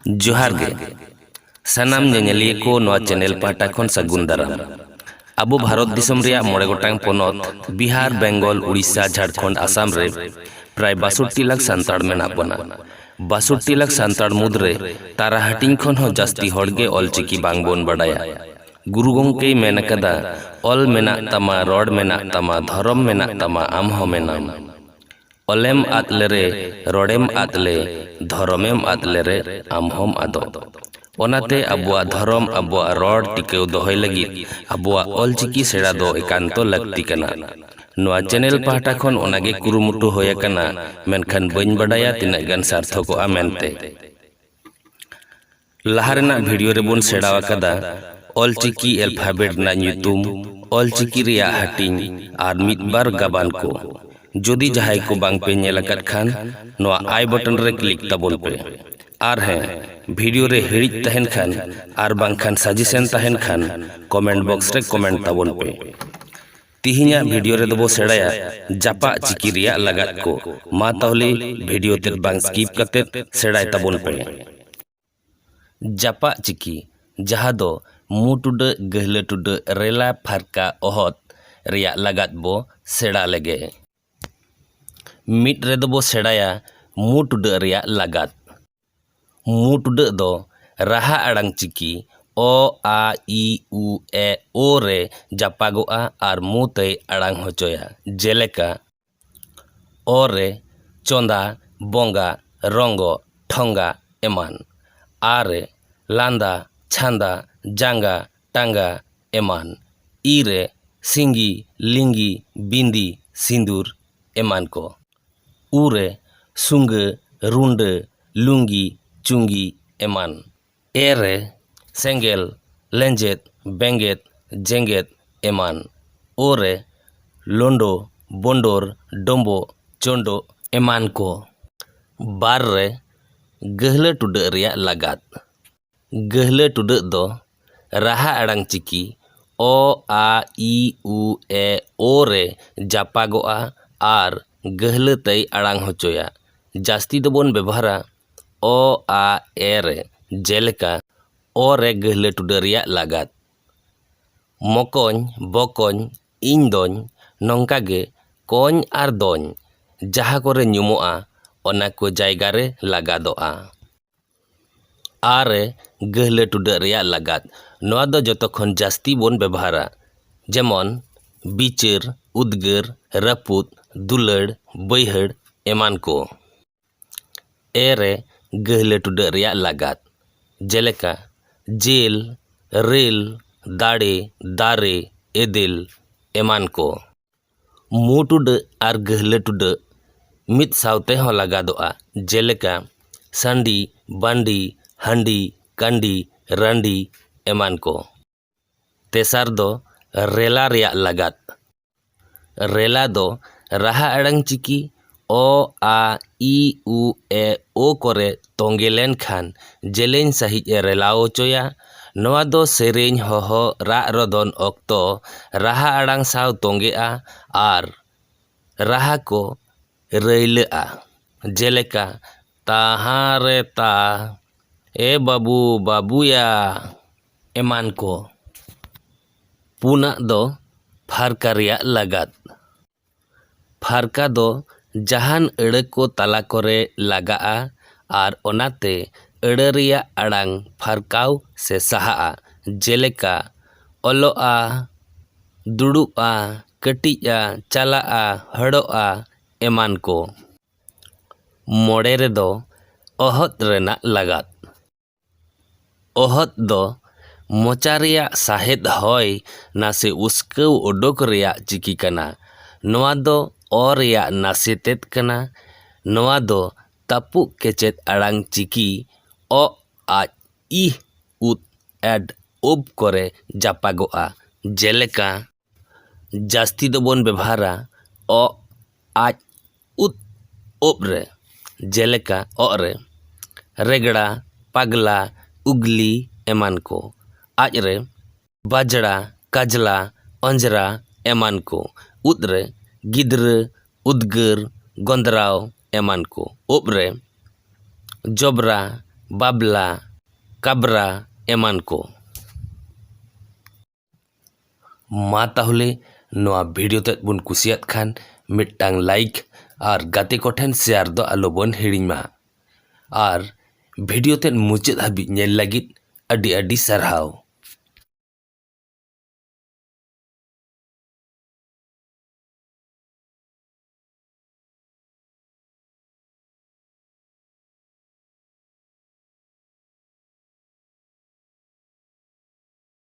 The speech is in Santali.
ᱡᱚᱦᱟᱨ ᱜᱮ ᱥᱟᱱᱟᱢ ᱧᱮᱧᱮᱞᱤᱭᱟᱹ ᱠᱚ ᱱᱚᱣᱟ ᱪᱮᱱᱮᱞ ᱯᱟᱦᱴᱟ ᱠᱷᱚᱱ ᱥᱟᱹᱜᱩᱱ ᱫᱟᱨᱟᱢ ᱟᱵᱚ ᱵᱷᱟᱨᱚᱛ ᱫᱤᱥᱚᱢ ᱨᱮᱭᱟᱜ ᱢᱚᱬᱮ ᱜᱚᱴᱟᱝ ᱯᱚᱱᱚᱛ ᱵᱤᱦᱟᱨ ᱵᱮᱝᱜᱚᱞ ᱩᱲᱤᱥᱥᱟ ᱡᱷᱟᱲᱠᱷᱚᱸᱰ ᱟᱥᱟᱢ ᱨᱮ ᱯᱨᱟᱭ ᱵᱟᱥᱚᱴᱴᱤ ᱞᱟᱠᱷ ᱥᱟᱱᱛᱟᱲ ᱢᱮᱱᱟᱜ ᱵᱚᱱᱟ ᱵᱟᱥᱚᱴᱴᱤ ᱞᱟᱠᱷ ᱥᱟᱱᱛᱟᱲ ᱢᱩᱫᱽᱨᱮ ᱛᱟᱨᱟ ᱦᱟᱹᱴᱤᱧ ᱠᱷᱚᱱ ᱦᱚᱸ ᱡᱟᱹᱥᱛᱤ ᱦᱚᱲ ᱜᱮ ᱚᱞᱪᱤᱠᱤ ᱵᱟᱝ ᱵᱚᱱ ᱵᱟᱰᱟᱭᱟ ᱜᱩᱨᱩ ᱜᱚᱢᱠᱮᱭ ᱢᱮᱱ ᱟᱠᱟᱫᱟ ᱚᱞ ᱢᱮᱱᱟᱜ ᱛᱟᱢᱟ ᱨᱚᱲ ᱢᱮᱱᱟᱜ ᱛᱟᱢᱟ ᱫᱷᱚᱨᱚᱢ ᱢᱮᱱᱟᱜ ᱛᱟᱢᱟ ᱟᱢ ᱦᱚᱸ ᱢᱮᱱᱟᱢ ᱚᱞᱮᱢ ᱟᱫ ᱞᱮᱨᱮ ᱨᱚᱲᱮᱢ ᱟᱫ ᱞᱮ ᱫᱷᱚᱨᱚᱢᱮᱢ ᱟᱫ ᱞᱮᱨᱮ ᱟᱢ ᱦᱚᱸᱢ ᱟᱫᱚᱜ᱾ ᱚᱱᱟᱛᱮ ᱟᱵᱚᱣᱟᱜ ᱫᱷᱚᱨᱚᱢ ᱟᱵᱚᱣᱟᱜ ᱨᱚᱲ ᱴᱤᱠᱟᱹᱣ ᱫᱚᱦᱚᱭ ᱞᱟᱹᱜᱤᱫ ᱟᱵᱚᱣᱟᱜ ᱚᱞᱪᱤᱠᱤ ᱥᱮᱬᱟ ᱫᱚ ᱮᱠᱟᱱᱛᱚ ᱞᱟᱹᱠᱛᱤ ᱠᱟᱱᱟ᱾ ᱱᱚᱣᱟ ᱪᱮᱱᱮᱞ ᱯᱟᱦᱴᱟ ᱠᱷᱚᱱ ᱚᱱᱟ ᱜᱮ ᱠᱩᱨᱩᱢᱩᱴᱩ ᱦᱳᱭ ᱟᱠᱟᱱᱟ ᱢᱮᱱᱠᱷᱟᱱ ᱵᱟᱹᱧ ᱵᱟᱰᱟᱭᱟ ᱛᱤᱱᱟᱹᱜ ᱜᱟᱱ ᱥᱟᱨᱛᱷᱚᱠᱚᱜᱼᱟ ᱢᱮᱱᱛᱮ᱾ ᱞᱟᱦᱟ ᱨᱮᱱᱟᱜ ᱵᱷᱤᱰᱤᱭᱳ ᱨᱮᱵᱚᱱ ᱥᱮᱬᱟ ᱟᱠᱟᱫᱟ ᱚᱞᱪᱤᱠᱤ ᱮᱞᱯᱷᱟᱵᱮᱴ ᱨᱮᱱᱟᱜ ᱧᱩᱛᱩᱢ ᱚᱞᱪᱤᱠᱤ ᱨᱮᱭᱟᱜ ᱦᱟᱹᱴᱤᱧ ᱟᱨ ᱢᱤᱫ ᱵᱟᱨ ᱜᱟᱵᱟᱱ ᱠᱚ ᱡᱩᱫᱤ ᱡᱟᱦᱟᱸᱭ ᱠᱚ ᱵᱟᱝ ᱯᱮ ᱧᱮᱞ ᱟᱠᱟᱫ ᱠᱷᱟᱱ ᱱᱚᱣᱟ ᱟᱭ ᱵᱚᱴᱚᱱ ᱨᱮ ᱠᱞᱤᱠ ᱛᱟᱵᱚᱱ ᱯᱮ ᱟᱨ ᱦᱮᱸ ᱵᱷᱤᱰᱤᱭᱳ ᱨᱮ ᱦᱤᱲᱤᱡ ᱛᱟᱦᱮᱱ ᱠᱷᱟᱱ ᱟᱨ ᱵᱟᱝᱠᱷᱟᱱ ᱥᱟᱡᱮᱥᱮᱱ ᱛᱟᱦᱮᱱ ᱠᱷᱟᱱ ᱠᱚᱢᱮᱱᱴ ᱵᱚᱠᱥ ᱨᱮ ᱠᱚᱢᱮᱱᱴ ᱛᱟᱵᱚᱱ ᱯᱮ ᱛᱤᱦᱤᱧᱟᱜ ᱵᱷᱤᱰᱤᱭᱳ ᱨᱮᱫᱚ ᱵᱚ ᱥᱮᱬᱟᱭᱟ ᱡᱟᱯᱟᱜ ᱪᱤᱠᱤ ᱨᱮᱭᱟᱜ ᱞᱟᱜᱟᱫ ᱠᱚ ᱢᱟ ᱛᱟᱦᱚᱞᱮ ᱵᱷᱤᱰᱤᱭᱳ ᱛᱮᱫ ᱵᱟᱝ ᱥᱠᱤᱯ ᱠᱟᱛᱮᱫ ᱥᱮᱬᱟᱭ ᱛᱟᱵᱚᱱ ᱯᱮ ᱡᱟᱯᱟᱜ ᱪᱤᱠᱤ ᱡᱟᱦᱟᱸ ᱫᱚ ᱢᱩ ᱴᱩᱰᱟᱹᱜ ᱜᱟᱹᱦᱞᱟᱹ ᱴᱩᱰᱟᱹᱜ ᱨᱮᱞᱟ ᱯᱷᱟᱨᱠᱟ ᱚᱦᱚᱫ ᱨᱮᱭᱟᱜ ᱞᱟᱜᱟᱫ ᱵᱚ ᱥᱮᱬᱟ ᱞᱮᱜᱮ ᱢᱤᱫ ᱨᱮᱫᱚ ᱵᱚ ᱥᱮᱬᱟᱭᱟ ᱢᱩ ᱴᱩᱰᱟᱹᱜ ᱨᱮᱭᱟᱜ ᱞᱟᱜᱟᱫ᱾ ᱢᱩᱬ ᱴᱩᱰᱟᱹᱜ ᱫᱚ ᱨᱟᱦᱟ ᱟᱲᱟᱝ ᱪᱤᱠᱤ ᱚ ᱟ ᱤ ᱩ ᱮ ᱳ ᱨᱮ ᱡᱟᱯᱟᱜᱚᱜᱼᱟ ᱟᱨ ᱢᱩ ᱛᱮᱭ ᱟᱲᱟᱝ ᱦᱚᱪᱚᱭᱟ ᱡᱮᱞᱮᱠᱟ ᱚ ᱨᱮ ᱪᱚᱸᱫᱟ ᱵᱚᱸᱜᱟ ᱨᱚᱸᱜᱚ ᱴᱷᱚᱸᱜᱟ ᱮᱢᱟᱱ ᱟ ᱨᱮ ᱞᱟᱸᱫᱟ ᱪᱷᱟᱸᱫᱟ ᱡᱟᱸᱜᱟ ᱴᱟᱸᱜᱟ ᱮᱢᱟᱱ ᱤ ᱨᱮ ᱥᱤᱸᱜᱤ ᱞᱤᱸᱜᱤ ᱵᱤᱸᱫᱤ ᱥᱤᱸᱫᱩᱨ ᱮᱢᱟᱱ ᱠᱚ ᱩ ᱨᱮ ᱥᱩᱸᱜᱟᱹ, ᱨᱩᱸᱰᱟᱹ, ᱞᱩᱸᱜᱤ, ᱪᱩᱸᱜᱤ ᱮᱢᱟᱱ᱾ ᱮ ᱨᱮ ᱥᱮᱸᱜᱮᱞ, ᱞᱮᱸᱡᱮᱫ, ᱵᱮᱸᱜᱮᱫ, ᱡᱮᱸᱜᱮᱫ ᱮᱢᱟᱱ᱾ ᱳ ᱨᱮ ᱞᱳᱸᱰᱳ, ᱵᱳᱸᱰᱳᱨ, ᱰᱳᱸᱵᱳᱜ, ᱪᱳᱸᱰᱳᱜ ᱮᱢᱟᱱ ᱠᱚ᱾ ᱵᱟᱨ ᱨᱮ ᱜᱟᱹᱦᱞᱟᱹ ᱴᱩᱰᱟᱹᱜ ᱨᱮᱭᱟᱜ ᱞᱟᱜᱟᱫ᱾ ᱜᱟᱹᱦᱞᱟᱹ ᱴᱩᱰᱟᱹᱜ ᱫᱚ ᱨᱟᱦᱟ ᱟᱲᱟᱝ ᱪᱤᱠᱤ ᱚ ᱟ ᱤ ᱩ ᱮ ᱳ ᱨᱮ ᱡᱟᱯᱟᱜᱚᱜᱼᱟ ᱟᱨ ᱜᱟᱹᱦᱞᱟᱹ ᱛᱮᱭ ᱟᱲᱟᱝ ᱦᱚᱪᱚᱭᱟ ᱡᱟᱹᱥᱛᱤ ᱫᱚᱵᱚᱱ ᱵᱮᱵᱚᱦᱟᱨᱟ ᱚ ᱟ ᱮ ᱨᱮ ᱡᱮᱞᱮᱠᱟ ᱚ ᱨᱮ ᱜᱟᱹᱦᱞᱟᱹ ᱴᱩᱰᱟᱹᱜ ᱨᱮᱭᱟᱜ ᱞᱟᱜᱟᱫ ᱢᱚᱠᱚᱧ ᱵᱚᱠᱚᱧ ᱤᱧ ᱫᱚᱧ ᱱᱚᱝᱠᱟ ᱜᱮ ᱠᱚᱧ ᱟᱨ ᱫᱚᱧ ᱡᱟᱦᱟᱸ ᱠᱚᱨᱮ ᱧᱩᱢᱚᱜᱼᱟ ᱚᱱᱟ ᱠᱚ ᱡᱟᱭᱜᱟ ᱨᱮ ᱞᱟᱜᱟᱫᱚᱜᱼᱟ ᱟᱨ ᱜᱟᱹᱦᱞᱟᱹ ᱴᱩᱰᱟᱹᱜ ᱨᱮᱭᱟᱜ ᱞᱟᱜᱟᱫ ᱱᱚᱣᱟ ᱫᱚ ᱡᱚᱛᱚ ᱠᱷᱚᱱ ᱡᱟᱹᱥᱛᱤ ᱵᱚᱱ ᱵᱮᱵᱚᱦᱟᱨᱟ ᱡᱮᱢᱚᱱ ᱵᱤᱪᱟᱹᱨ ᱩᱫᱽᱜᱟᱹᱨ ᱨᱟᱹᱯᱩᱫ ᱫᱩᱞᱟᱹᱲ ᱵᱟᱹᱭᱦᱟᱹᱲ ᱮᱢᱟᱱ ᱠᱚ ᱮ ᱨᱮ ᱜᱟᱹᱦᱞᱟᱹ ᱴᱩᱰᱟᱹᱜ ᱨᱮᱭᱟᱜ ᱞᱟᱜᱟᱫ ᱡᱮᱞᱮᱠᱟ ᱡᱤᱞ ᱨᱤᱞ ᱫᱟᱲᱮ ᱫᱟᱨᱮ ᱮᱫᱮᱞ ᱮᱢᱟᱱ ᱠᱚ ᱢᱩ ᱴᱩᱰᱟᱹᱜ ᱟᱨ ᱜᱟᱹᱦᱞᱟᱹ ᱴᱩᱰᱟᱹᱜ ᱢᱤᱫ ᱥᱟᱶᱛᱮ ᱦᱚᱸ ᱞᱟᱜᱟᱫᱚᱜᱼᱟ ᱡᱮᱞᱮᱠᱟ ᱥᱟᱺᱰᱤ ᱵᱟᱺᱰᱤ ᱦᱟᱺᱰᱤ ᱠᱟᱺᱰᱤ ᱨᱟᱺᱰᱤ ᱮᱢᱟᱱ ᱠᱚ ᱛᱮᱥᱟᱨ ᱫᱚ ᱨᱮᱞᱟ ᱨᱮᱭᱟᱜ ᱞᱟᱜᱟᱫ ᱨᱮᱞᱟ ᱫᱚ ᱨᱟᱦᱟ ᱟᱲᱟᱝ ᱪᱤᱠᱤ ᱚ ᱟ ᱤ ᱩ ᱮ ᱳ ᱠᱚᱨᱮ ᱛᱚᱸᱜᱮ ᱞᱮᱱᱠᱷᱟᱱ ᱡᱮᱞᱮᱧ ᱥᱟᱺᱦᱤᱡ ᱮ ᱨᱮᱞᱟᱣ ᱦᱚᱪᱚᱭᱟ ᱱᱚᱣᱟ ᱫᱚ ᱥᱮᱨᱮᱧ ᱦᱚᱦᱚ ᱨᱟᱜ ᱨᱚᱫᱚᱱ ᱚᱠᱛᱚ ᱨᱟᱦᱟ ᱟᱲᱟᱝ ᱥᱟᱶ ᱛᱚᱸᱜᱮᱜᱼᱟ ᱟᱨ ᱨᱟᱦᱟ ᱠᱚ ᱨᱟᱹᱭᱞᱟᱹᱜᱼᱟ ᱡᱮᱞᱮᱠᱟ ᱛᱟᱦᱟᱸ ᱨᱮ ᱛᱟ ᱮ ᱵᱟᱹᱵᱩ ᱵᱟᱹᱵᱩᱭᱟ ᱮᱢᱟᱱ ᱠᱚ ᱯᱩᱱᱟᱜ ᱫᱚ ᱯᱷᱟᱨᱠᱟ ᱨᱮᱭᱟᱜ ᱞᱟᱜᱟᱫ ᱯᱷᱟᱨᱠᱟ ᱫᱚ ᱡᱟᱦᱟᱱ ᱟᱹᱲᱟᱹ ᱠᱚ ᱛᱟᱞᱟ ᱠᱚᱨᱮ ᱞᱟᱜᱟᱜᱼᱟ ᱟᱨ ᱚᱱᱟᱛᱮ ᱟᱹᱲᱟᱹ ᱨᱮᱭᱟᱜ ᱟᱲᱟᱝ ᱯᱷᱟᱨᱠᱟᱣ ᱥᱮ ᱥᱟᱦᱟᱜᱼᱟ, ᱡᱮᱞᱮᱠᱟ, ᱚᱞᱚᱜᱼᱟ, ᱫᱩᱲᱩᱵᱼᱟ, ᱠᱟᱹᱴᱤᱡᱼᱟ, ᱪᱟᱞᱟᱜᱼᱟ, ᱦᱚᱲᱚᱜᱼᱟ ᱮᱢᱟᱱ ᱠᱚ᱾ ᱢᱚᱬᱮ ᱨᱮᱫᱚ ᱚᱦᱚᱫ ᱨᱮᱱᱟᱜ ᱞᱟᱜᱟᱫ᱾ ᱚᱦᱚᱫ ᱫᱚ ᱢᱚᱪᱟ ᱨᱮᱭᱟᱜ ᱥᱟᱦᱮᱫ ᱦᱚᱭ ᱱᱟᱥᱮ ᱩᱥᱠᱟᱹᱣ ᱚᱰᱚᱠ ᱨᱮᱭᱟᱜ ᱪᱤᱠᱤ ᱠᱟᱱᱟ᱾ ᱱᱚᱣᱟ ᱫᱚ ᱚ ᱨᱮᱭᱟᱜ ᱱᱟᱥᱮ ᱛᱮᱫ ᱠᱟᱱᱟ᱾ ᱱᱚᱣᱟ ᱫᱚ ᱛᱟᱹᱯᱩᱜ ᱠᱮᱪᱮᱫ ᱟᱲᱟᱝ ᱪᱤᱠᱤ ᱚ, ᱟ, ᱤ, ᱩ, ᱮᱰ, ᱳᱵ ᱠᱚᱨᱮ ᱡᱟᱯᱟᱜᱚᱜᱼᱟ, ᱡᱮᱞᱮᱠᱟ᱾ ᱡᱟᱹᱥᱛᱤ ᱫᱚᱵᱚᱱ ᱵᱮᱵᱷᱟᱨᱟ ᱚᱜ ᱟᱡ ᱩᱫ ᱳᱜ ᱨᱮ ᱡᱮᱞᱮᱠᱟ ᱚᱜ ᱨᱮ ᱨᱮᱜᱽᱲᱟ ᱯᱟᱜᱽᱞᱟ ᱩᱜᱽᱞᱤ ᱮᱢᱟᱱ ᱠᱚ ᱟᱡ ᱨᱮ ᱵᱟᱡᱽᱲᱟ ᱠᱟᱡᱽᱞᱟ ᱚᱸᱡᱽᱨᱟ ᱮᱢᱟᱱ ᱠᱚ ᱩᱫ ᱨᱮ ᱜᱤᱫᱽᱨᱟᱹ ᱩᱫᱽᱜᱟᱹᱨ ᱜᱚᱸᱫᱽᱨᱟᱣ ᱮᱢᱟᱱ ᱠᱚ ᱳᱜ ᱨᱮ ᱡᱚᱵᱽᱨᱟ ᱵᱟᱵᱽᱞᱟ ᱠᱟᱵᱽᱨᱟ ᱮᱢᱟᱱ ᱠᱚ ᱢᱟ ᱛᱟᱦᱚᱞᱮ ᱱᱚᱣᱟ ᱵᱷᱤᱰᱤᱭᱳ ᱛᱮᱫ ᱵᱚᱱ ᱠᱩᱥᱤᱭᱟᱫ ᱠᱷᱟᱱ ᱢᱤᱫᱴᱟᱝ ᱞᱟᱭᱤᱠ ᱟᱨ ᱜᱟᱛᱮ ᱠᱚᱴᱷᱮᱱ ᱥᱮᱭᱟᱨ ᱫᱚ ᱟᱞᱚ ᱵᱚᱱ ᱦᱤᱲᱤᱧ ᱢᱟ ᱟᱨ ᱵᱷᱤᱰᱤᱭᱳ ᱛᱮᱫ ᱢᱩᱪᱟᱹᱫ ᱦᱟᱹᱵᱤᱡ ᱧᱮᱞ ᱞᱟᱹᱜᱤᱫ ᱟᱹᱰᱤ ᱟᱹᱰᱤ ᱥᱟᱨᱦᱟᱣ